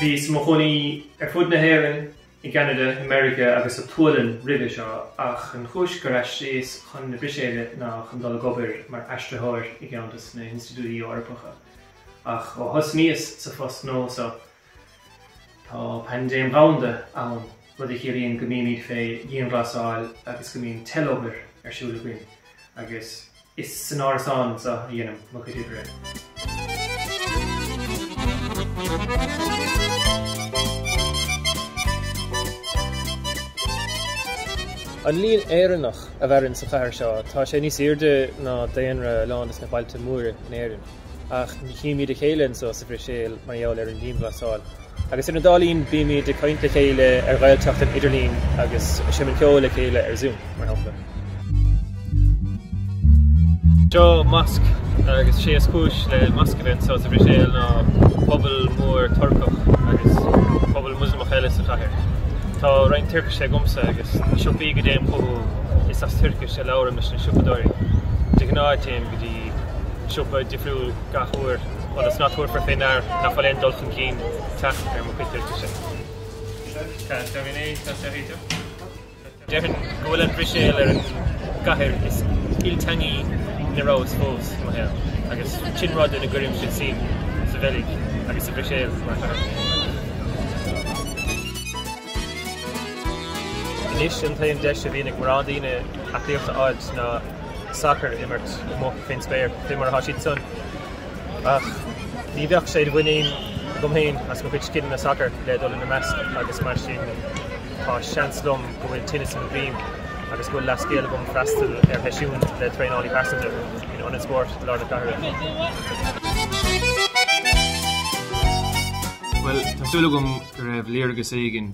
Bhíos i mo chónaí ar fud na hÉireann, i gCeanada, i Meiriceá agus sa tSualainn roimhe seo ach an chúis gur aistríos chun na Bruiséile ná chun dul ag obair mar aistritheoir i gceann de na hInstitiúidí Eorpacha. Ach ó thosnaíos sa phost nua seo Tá paindéim dhomhanda ann, rud a chiallaíonn go mbímid fé dhianghlasáil agus go mbíonn teilobair ar siúl againn, agus is san árasán anseo a dheinim mo chuid oibre. An líon Éireannach a mhaireann sa chathair seo, tá sé níos airde ná daonra a lán de na bailte móra in Éirinn. ach ní chímíd a chéile anso sa Bhruiséil mar gheall ar an dianghlasáil. Agus ar na dála sin bímíd ag caint le chéile ar Ghaeltacht an idirlín agus ag seimint ceoil le chéile ar Zoom, mar shampla. Seo masc agus sé is cúis le masc a bheith anso sa Bhruiséil ná pobal mór Turcach agus pobal Muslamach eile sa chathair. Tá roinnt Tuircise agamsa agus na siopaí go dtéim chucu is as Tuircis a labhraim leis na siopadóirí. De ghnáth téim go dtí. siopa difriúil gach uair ionas nach dtabharfar fé ndear nach bhfuil aon dul chun cinn teacht ar mo chuid Tuircise. Déarfainn go bhfuil an Bhruiséil ar an gcathair is ilteangaí ina rabhas fós im shaol, agus sin rud ina gcuirimse suim sa Bheilg agus sa Bhruiséil mar chathair. Anois, an t-aon deis a bhíonn ag mórán daoine aclaíocht a fháil ná. sacar a imirt amuigh fén spéir, fé mar atá siad san. Ach ní bheadh sé de mhuinín agam féin as mo chuid scileanna sacair le dul ina measc agus mar sin tá seans liom go bhfuil tinneas droma orm agus go bhfuil leathscéal agam freastal ar sheisiún le traenálaí pearsanta in Ionad Spóirt i lár na cathrach. Bhuel, tá súil agam go raibh léargas éigin.